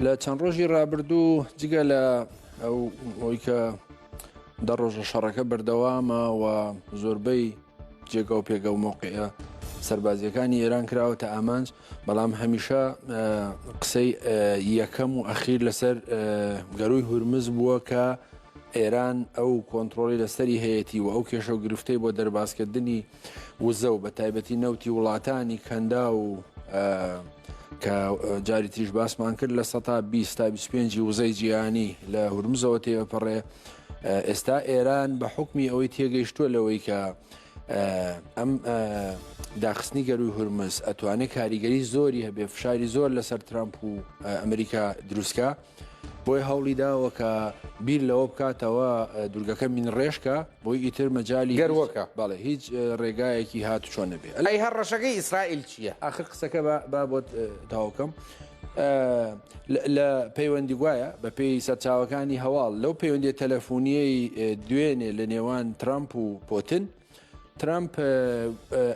لە چەند ڕۆژی ڕابردوو جگە لە ئەو ئەوی کە دە ڕۆژە شەڕەکە بەردەوامە و زۆربەی جێگا و پێگە و مۆقعە سربازیەکانی ئێران کراوە تا ئامانج بەڵام هەمیشە قسەی یەکەم و ئەخیر لەسەر گەروی هورمز بووە کە ئێران ئەو کۆنتترۆلی لەسەری هەیەی و ئەو کێشە و گرفتەی بۆ دەربازکردنی وزە و بە تایبەتی نەوتی وڵاتانی کەنداو و کە جاری تریش باسمان کرد لە سەتا 20 تا 25 وزەی جیهانی لە هورمزەوە تێپەڕێ ئێستا ئێران بە حکمی ئەوەی تێگەیشتووە لەوەی کە ئەم داخستنی گەروی هورمز ئەتوانێت کاریگەری زۆری هەبێ فشاری زۆر لەسەر ترامپ و ئەمریکا دروستکە. بۆیە هەوڵی داوە کە بیر لەوە بکاتەوە دورگەکە مینڕێشکە بۆی ئیتر مەجالی گەروەکە بەڵێ هیچ ڕێگایەکی هات چۆن نەبێ ئەی هەر ڕەشەکەی ئیسرائیل چییە؟ ئاخر قسەکە با بۆت تاوکەم لە پەیوەندی گوایە بە پێی سەرچاوەکانی هەواڵ لەو پەیوەندی تەلەفۆنیەی دوێنێ لە نێوان ترامپ و پۆتن ترامپ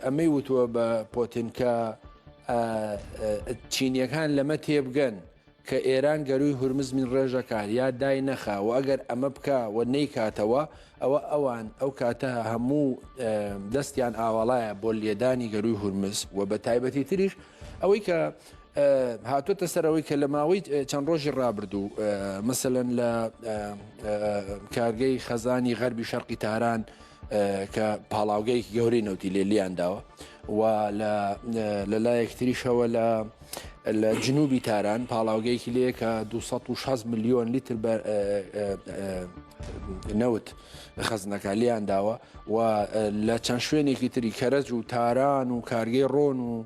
ئەمەی وتووە بە پۆتنکە چینیەکان لەمە تێبگەن کە ئێران گەرووی هورمز من ڕێژە کا یا دای نەخا و ئەگەر ئەمە بکا و نەیکاتەوە ئەوە ئەوان ئەو کاتە هەموو دەستیان ئاواڵایە بۆ لێدانی گەرووی هورمز و بە تایبەتی تریش ئەوەی کە هاتوتە سەرەوەی کە لە ماوەی چەند ڕۆژی ڕابردوو مثلەن لە کارگەی خەزانی غەربی شەرقی تاران کە پاڵاوگەیەکی گەورەی نەوتی لێ لیان داوە و لە لایەکتریشەوە لە لە جنوبی تاران پاڵاوگەیەکی لێ کە 260 میلیۆن لیتر نەوت خەزنەکە لیان داوە و لە چەند شوێنێکی تری کەرەج و تاران و کارگەی ڕۆن و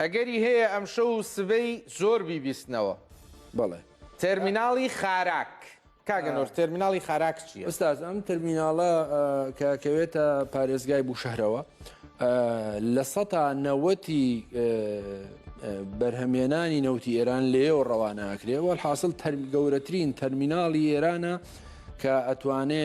ئەگەری هەیە ئەمشەو و سبەی زۆر بیبیستنەوە. بەڵێ. تێرمیناڵی خاراک. کاک ئەنوەر تێرمیناڵی خاراک چییە؟ ئوستاز ئەم تێرمیناڵە کە ئەکەوێتە پارێزگای بووشەهرەوە لە سەدا نەوەتی بەرهەمهێنانی نەوتی ئێران لێیەوە ڕەوانە ئەکرێ وەلحاسڵ گەورەترین تەرمیناڵی ئێرانە کە ئەتوانێ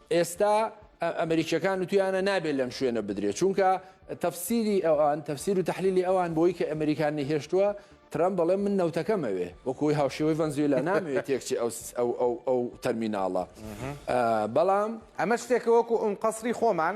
ئێستا ئەمریکیەکان وتویانە نابێت لەم شوێنە بدرێت چونکە تەفسیری ئەوان تەفسیر و تحلیلی ئەوان بۆی کە ئەمریکان نهێشتووە ترەم بەڵێ من نەوتەکەمەوێ وەکوی هاوشێوەی ڤەنزویلا نامەوێت تێکچی ئەو تەرمیناڵە بەڵام ئەمە شتێکە وەکو ئەم قەسری خۆمان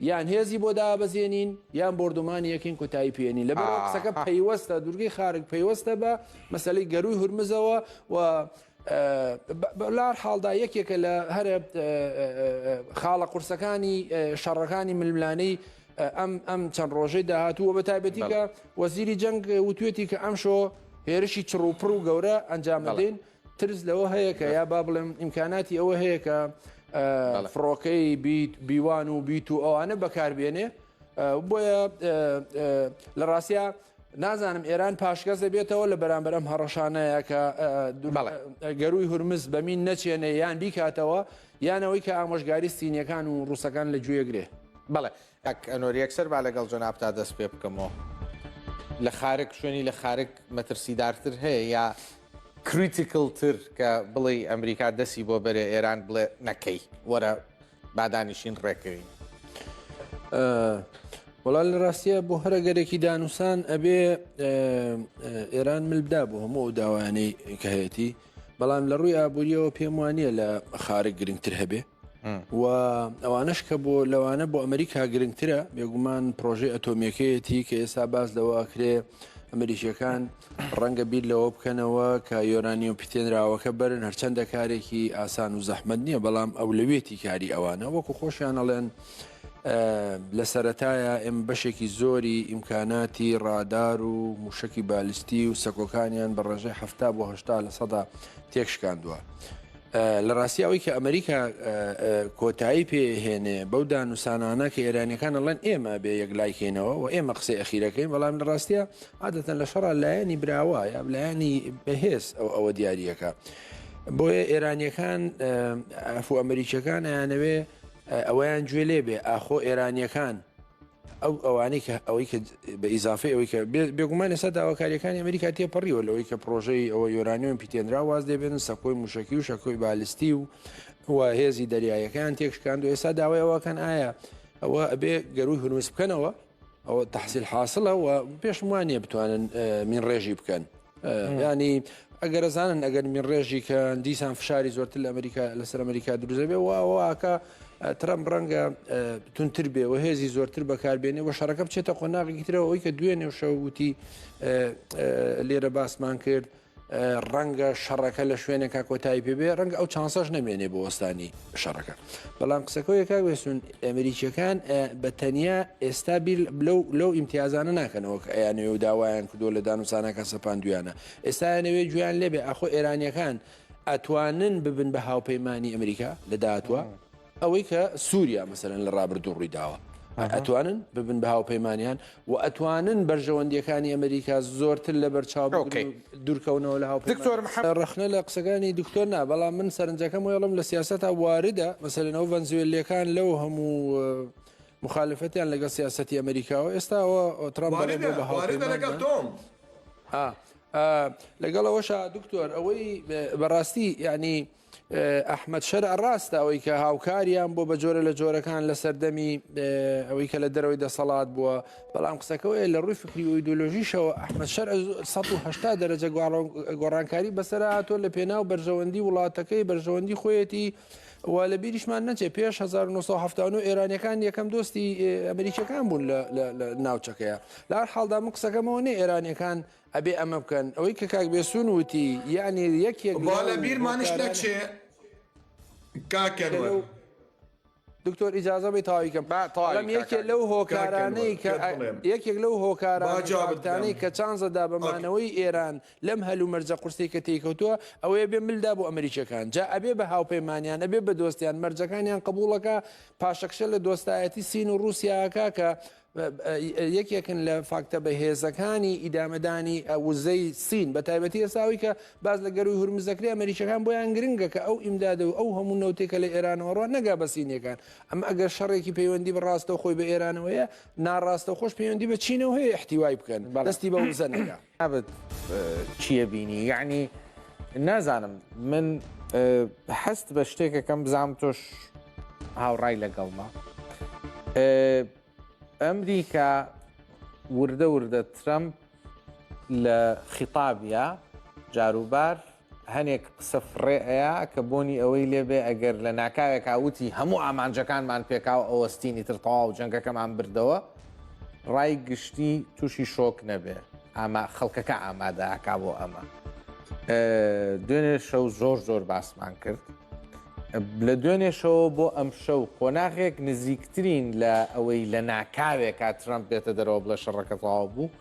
یان هێزی بۆ دابەزێنین یان بۆردومانی یەکین کۆتایی پێ نین لەبەر ئەو قسەکە پەیوەستە دوورگەی خارگ پەیوەستە بە مەسەلەی گەرووی هورمزەوە و لار حاڵدا یەکێکە لە هەرە خاڵە قورسەکانی شەڕەکانی ململانەی ئەم ئەم چەند ڕۆژەی داهاتووە بە تایبەتیکە وەزیری جەنگ وتوێتی کە ئەمشۆ هێرشی چڕوپڕ و گەورە ئەنجام دەدەین ترس لەوە هەیە کە یا با بڵێم ئیمکاناتی ئەوە هەیە کە فڕۆکەی بیت بیوان و بیت و ئەوانە بەکاربیێنێ بۆیە لە ڕاستە نازانم ئێران پاشگەز دەبێتەوە لە بەرامبەر ئەم هەڕەشانەیە کە گەروی هورمز بەمین نەچێنێ یان بیکاتەوە یانەوەی کە ئامۆژگاری سینیەکان و ڕوسەکان لە گوێگرێ بەڵێ کاک ئەنۆر یەکسەر با لەگەڵ جەنابتا دەست پێ بکەمۆ لە خارک شوێنی لە خارک مەترسیدارتر هەیە یا کریتیکل تر کە بڵێی ئەمریکا دەسی بۆ بەرێ ئێران بڵێ نەکەی وەرە بادانیشین ڕێکەوین. وەڵا لە ڕاستیە بۆ هەرە گەرەێکی دانوسان ئەبێ ئێران ملدا بۆ هەموو ئەو داوایانەی کە هەیەی بەڵام لە ڕووی ئابوووریەوە پێم وانە لە خارە گرنگتر هەبێ و ئەوانش کە بۆ لەوانە بۆ ئەمریکا گرنگترە بێگومان پرۆژەی ئەتۆمیەکەیەتی کە ئێستا باز لەوەکرێ ئەمریکیەکان ڕەنگە بیر لەوە بکەنەوە کە یۆرانی و پیتێنراوەکە بەرن هەرچەندە کارێکی ئاسان و زەحمد نییە بەڵام ئەو لەوێتی کاری ئەوانە وەکو خۆشیانەڵێن لە سەتایە ئێم بەشێکی زۆری ئیمکاناتی ڕادار و موشکی بالستی و سەکۆکانیان بە ڕێژەی هەفتا بۆ هشتا لە سەدا تێکشکاندووە. لە ڕاستی ئەوەی کە ئەمریکا کۆتایی پێ هێنێ بەو دانوسانانە کە ئێرانەکان ئەڵێن ئێمە بێ یەک لایکەینەوە و ئێمە قسەی ئەخیرەکەین بەڵام لە ڕاستە عادەتەن لە شەڕ لایەنی براوە یا لایەنی بەهێز ئەو ئەوە دیارریەکە بۆیە ئێرانیەکان ئەفو ئەمریکیەکان ئەیانەوێ ئەویان گوێ لێ بێ ئاخۆ ئێرانیەکان ئەو ئەوانەی کە ئەوەی کە بە ئیزافی ئەوەی کە بێگومان ئێستا داواکاریەکانی ئەمریکا تێپەڕیوە لەوەی کە پرۆژەی ئەوە یۆرانیۆم پیتێنرا واز دەبێنن سەکۆی موشکی و شەکۆی بالستی و و هێزی دەریایەکان تێکشکاند و ئێستا داوای ئەوەکەن ئایا ئەوە ئەبێ گەروی هورمز بکەنەوە ئەوە تحصیل حاصلە و پێشموانە بتوانن من ڕێژی بکەن ینی ئەگەرەزانن ئەگەر من ڕێژی کە دیسان فشاری زۆرتر لە ئەمریکا لەسەر ئەمریکا دروزەبێ وواکە ترەم ڕەنگە تونتر بێ و هێزی زۆرتر بەکاربێنێ و شەڕەکە بچێتە قۆناغی ترەوە ئەوی کە دوێنێ و شەوتی لێرە باسمان کرد ڕەنگە شەڕەکە لە شوێنێکا کۆتایی پێبێ ڕەنگە ئەو چانسەش نەمێنێ بۆ وەستانی شەڕەکە. بەڵام قسەکەوێ کاک بێسون ئەمریکیەکان بە تەنیا ئێستا بیر لەو لەو ئیمتیازانە ناکەنەوە کە ئەیانەوێ و داوایان کردو لە دانوسانەکە سەپاندویانە ئێستایانەوێ گویان لێبێ ئاخۆ ئێرانیەکان ئەتوانن ببن بە هاوپەیمانانی ئەمریکا لە داهاتوە ئەوەی کە سووریا مەسەرەن لە ڕابردوو ڕوویداوە ئەتوانن ببن بە هاوپەیمانیان و ئەتوانن بەرژەوەندییەکانی ئەمریکا زۆرتر لەبەرچاو بگرن و دورکەونەوە لە هاوپەیمانەکان. ڕەخنە لە قسەکانی دکتۆر نا، بەڵام من سەرنجەکەم وەی ئەڵێم لە سیاسەتا واردە، مەسەلەن ئەو ڤەنزوێللیەکان لەو هەموو موخالفەتیان لەگەڵ سیاسەتی ئەمریکاوە ئێستا ئەوە ترەمپ دەڵێ بۆ بە هاوپەیمانمان. لەگەڵ ئەوەشا دکتۆر ئەوەی بەڕاستی یانی ئەحمەد شەرع ڕاستە ئەوەی کە هاوکاریان بۆ بە جۆرە لە جۆرەکان لە سەردەمی ئەوەی کە لە دەرەوەی دەسەڵات بووە بەڵام قسەکەەوەی لە ڕووی فکری و ئیدۆلۆژیشەوە ئەحمەد شەر 1970 دەرەجە گۆڕانکاری بەسەر هاتۆ لە پێناو بەرژەوەندی وڵاتەکەی بەرژەوەندی خۆیەتی و لە بیریشمان نەچێ پێش 1970 ئێرانەکان یەکەم دۆستی ئەمریکەکان بوون لە ناوچەکەیە لار حاڵدا من قسەکەمەوە نێ ئێرانەکان ئەبێ ئەمە بکەن ئەوەی کە کاک بێسوون وتی یەعنی یەک یەک با لە بیرمانیش نەچێ کاک ئەنوەر. دکتۆر ئیجازە بەی تەواوی کەم با تەواوی کە یەکێ لەو هۆکارانەی کە یەکێک لەو هۆکارانەی جواب بدەم کە چانزە دا بە مانەوەی ئێران لەم هەل و مەرجە قورسەی کە تێی کەوتووە ئەوەیە بێ مل دا بۆ ئەمریکیەکان جا ئەبێ بە هاوپەیمانیان ئەبێ بە دۆستیان مەرجەکانیان قبووڵەکە پاشەکشە لە دۆستایەتی سین و ڕووسیاکە کە یەکێکن لە فاکتە بەهێزەکانی ئیدامەدانی وزەی سین بە تایبەتی ئێساوی کە باز لە گەروی هورمزەکری ئەمریکەکان بۆیان گرنگە کە ئەو ئیمداد و ئەو هەموو نەوتێکە لە ئێرانەوەڕ نەگا بە سینەکان ئەم ئەگەر شەڕێکی پەیوەندی بە ڕاستە خۆی بە ئێرانەوەیە ناڕاستە خۆش پەیوەندی بە چینەوە هەیە احتیوای بکەن بەڵستی بە وزە نەگا نابت چیە بینی یەعنی نازانم من حەست بە شتێکەکەم بزانام تۆش هاوڕای لەگەڵمە ئەمریکا وردە وردە ترەمپ لە خیتابە جاروبار هەنێک قسە فڕێ ئەیا کە بۆنی ئەوەی لێ بێ ئەگەر لە ناکاوێکا وتی هەموو ئامانجەکانمان پێکاو ئەوەستین ئیتر تەواو جەنگەکەمان بردەوە ڕای گشتی تووشی شۆک نەبێ ئاما خەڵکەکە ئامادە ئاکا بۆ ئەمە دوێنێ شەو زۆر زۆر باسمان کرد لە دوێنێشەوە بۆ ئەم شەو قۆناغێک نزیکترین لە ئەوەی لە ناکاوێکا ترمپ بێتە دەرەوە بڵێ شەڕەکە تەواو بوو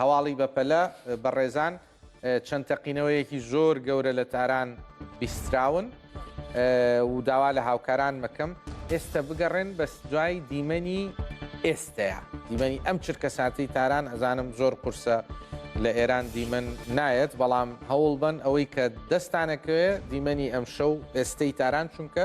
هەواڵی بەپەلە، بەڕێزان چەند تەقینەوەیەکی زۆر گەورە لە تاران بیستراون و داوا لە هاوکاران مەکەم ئێستا بگەڕێن بەس دوای دیمەنی ئێستەیە دیمەنی ئەم چرکە ساتی تاران ئەزانم زۆر قورسە لە ئێران دیمەن نایەت بەڵام هەوڵ بن ئەوەی کە دەستانەکەوێ دیمەنی ئەم شەو ئێستەی تاران چونکە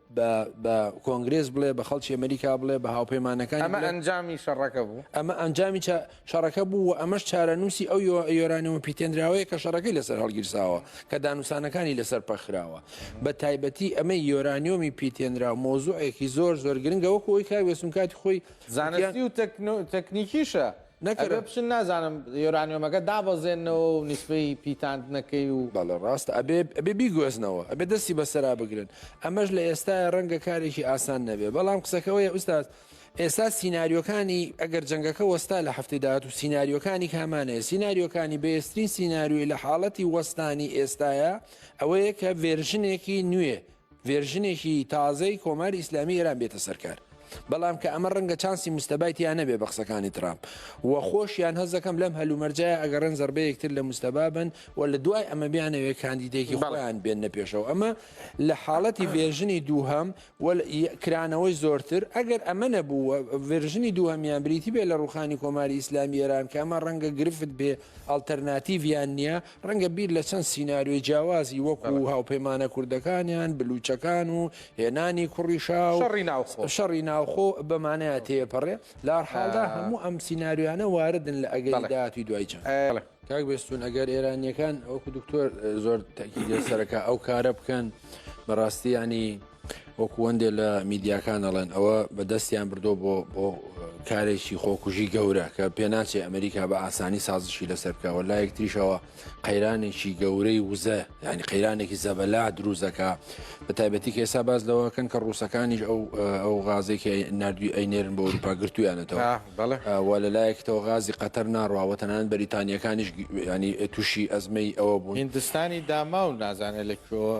بە بە کۆنگرێس بڵێ، بە خەڵکی ئەمەریکا بڵێ، بە هاوپەیمانەکانی بڵێ. ئەمە ئەنجامی شەڕەکە بوو. ئەمە ئەنجامی شەڕەکە بوو و ئەمەش چارەنووسی ئەو یۆرانیۆمە پیتێنراوەیە کە شەڕەکەی لەسەر هەڵگیرساوە، کە دانوستانەکانی لەسەر پەکخراوە. بە تایبەتی ئەمەی یۆرانیۆمی پیتێنراو مەوزوعێکی زۆر زۆر گرنگە، وەکو ئەوەی کاک وێستون کاتی خۆی. زانستی و تەکنیکیشە. ئەبێ بچن نازانم یۆرانیۆمەکە دابەزێننەوە و نیسبەی پیتاندنەکەی و. بەڵێ ڕاستە ئەبێ ئەبێ بیگۆزنەوە ئەبێ دەستی بەسەرا بگرن ئەمەش لە ئێستایا ڕەنگە کارێکی ئاسان نەبێ بەڵام قسەکە ئەوەیە ئوستاز ئێستا سیناریۆکانی ئەگەر جەنگەکە وەستا لە هەفتەی داهاتوو سیناریۆکانی کامانەیە سیناریۆکانی بەێسترین سیناریۆی لە حاڵەتی وەستانی ئێستایا ئەوەیە کە ڤێرژنێکی نوێ ڤێرژنێکی تازەی کۆماری ئیسلامی ئێران بێتە سەر کار. بەڵام کە ئەمە ڕەنگە چانسی مجتەبای تیا نەبێ بە قسەکانی ترامپ و خۆشیان هەست دەکەم لەم هەلومەرجە ئەگەڕێن زەڕبەیەک تر لە مجتەبا بەن و لە دوای ئەمە بیانەوێ کاندیدێکی خۆیان بێننە پێشەوە ئەمە لە حاڵەتی ڤێرژنی دووهەم و کرانەوەی زۆرتر ئەگەر ئەمە نەبوو و ڤێرژنی دووهەمیان بریتی بێ لە ڕوخانی کۆماری ئیسلامی ئێران کە ئەمە ڕەنگە گرفت بێ ئەڵتەرناتیڤیان نیە ڕەنگە بیر لە چەند سیناریۆی جیاوازی وەکو هاوپەیمانە کوردەکانیان، بلوچەکان و هێنانی کوڕی شا و شەڕی ناوخۆ بەمانەیە تێپەڕێ، لەهەرحاڵدا هەموو ئەم سیناریۆیانە واردن لە ئەگەری داهاتووی دوای جەنگ. کاک بێستوون ئەگەر ئێرانییەکان وەکو دکتۆر زۆر تەئکیدی لەسەرەکا ئەو کارە بکەن بەڕاستی یانی. وەکو وەندێ لە میدیاکان ئەڵێن ئەوە بە دەستیان بردۆ بۆ بۆ کارێکی خۆکوژی گەورە کە پێناچێ ئەمریکا بە ئاسانی سازشی لەسەر بکەوە لا یەکتریشەوە قەیرانێکی گەورەی وزە ینی قەیرانێکی زەبەلا دروزەکە بە تایبەتی کێسا باز لەوەکەن کە ڕووسەکانیش ئەو ئەو غازێکی نردوی ئەینێرن بۆ ئەوروپا گرتویانەتەوە وە لە لایەکەوە غازی قەتەر ناڕواوە تەنان بەریتانیەکانیش ینی تووشی ئەزمەی ئەوە بوو هندستانی داماو نازانێت لە کوێوە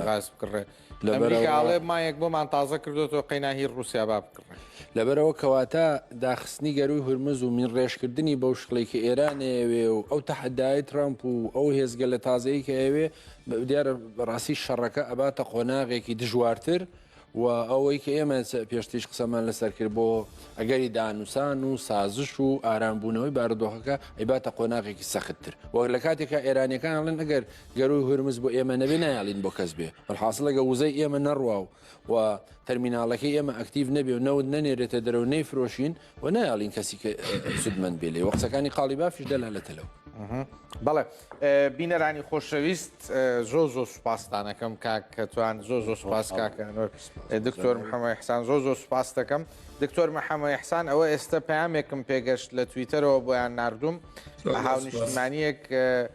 غاز بکڕێ لەمریکاڵێ مایەک بۆمان تازە کردوەوە قەیناهی رووسیا با بکڕێ لەبەرەوە کەواتە داخستنی گەروی هورمز و مین ڕێژکردنی بەو شکڵی کە ئێرانەیەوێ و ئەو تەحدای ترامپ و ئەو هێزگە لە تازەیە کە ئەوێ دیارە بەڕاستی شەڕەکە ئەباتە قۆناغێکی دژوارتر. و ئەوەی کە ئێمە پێشتریش قسەمان لەسەر کرد بۆ ئەگەری دانوسان و سازش و ئارامبوونەوەی بارودۆخەکە ئەیباتە قۆناغێکی سەختتر وەک لە کاتێکا ئێرانەکان ئەڵێن ئەگەر گەروی هورمز بۆ ئێمە نەبێ نایڵین بۆ کەس بێ حاصلەگە وزەی ئێمە نەڕوا و و تەرمیناڵەکەی ئێمە ئەکتیو نەبێ و نەوت نەنێرێتە دەرەوە نەیفرۆشین وە نایەڵین کەسی کە سودمەند بێ لێ وە قسەکانی قاڵی بافیش دەلالەتە لەو. بەڵێ بینەرانی خۆشەویست زۆ زۆ سوپاستانەکەم کاک کەتوان زۆ زۆ سوپاس کاکەنۆر دکتۆر محەممەی حسان زۆ زۆ سوپاس دەکەم دکتۆر محەممەی حسان ئەوە ئێستا پامێکم پێگەشت لە تویتەرەوە بۆیان نردوم هاونیشتمانیەک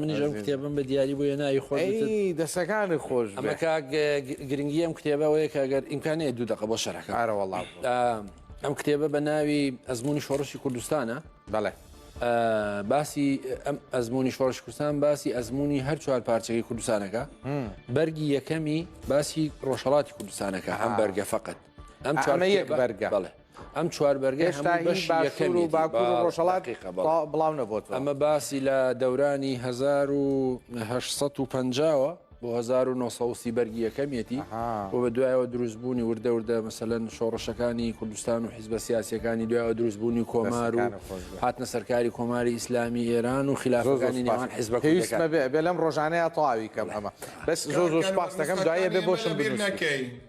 منیژم کتێبم بە دیاری بۆ ناوی خۆ دەسەکانی خۆش گرنگی ئەم کتێبەوەیە کە گەر ئیمکانەیە دوو دقە بۆ شەرەکە ئارەوەڵا ئەم کتێبە بە ناوی ئەزمموی شۆڕشی کوردستانە بەڵێ باسی ئەم ئەزمموی شۆڕش کوردستان باسی ئەزمموی هەر چوار پارچەکەی کوردستانەکە بەرگی یەکەمی باسی ڕۆژهڵاتی کوردستانەکە ئەم بەرگە فقط ئەم چوارمە یەک بەرگە بڵێ ئەم چوار بەرگە هەمووی بەشی یەکەمی باکوور و ڕۆژهەڵات بڵاو نەبووەوە ئەمە باسی لە دەورانی 1950ەوە بۆ 1970 بەرگی یەکەمێتی بۆ بە دوایەوە دروستبوونی وردە وردە مەسەلەن شۆڕشەکانی کوردستان و حیزبە سیاسەکانی دوایەوە دروستبوونی کۆمار و هاتنە سەرکاری کۆماری ئیسلامی ئێران و خلافەکانی نێوان حیزبە بێ لەم ڕۆژانەیە تەواوی کەم ئەمە بەس زۆر زۆر سپاس دەکەم دوایە بێ بۆشم بیر نەکەین.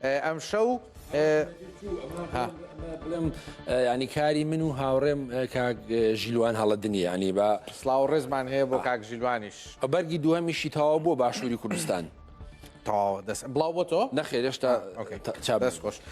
ئەمشەو ها بڵێم ینی کاری من و هاوڕێم کاک ژیلوان هەڵە دنیانی بە سلااو ڕێزمان هەیە بۆ کاک ژیلوانیش بەرگی دووەمیشی تەواو بۆ باشووری کوردستان تەواو دەست بڵاو بۆ تۆ نەخێرێشتا چا دەست خۆش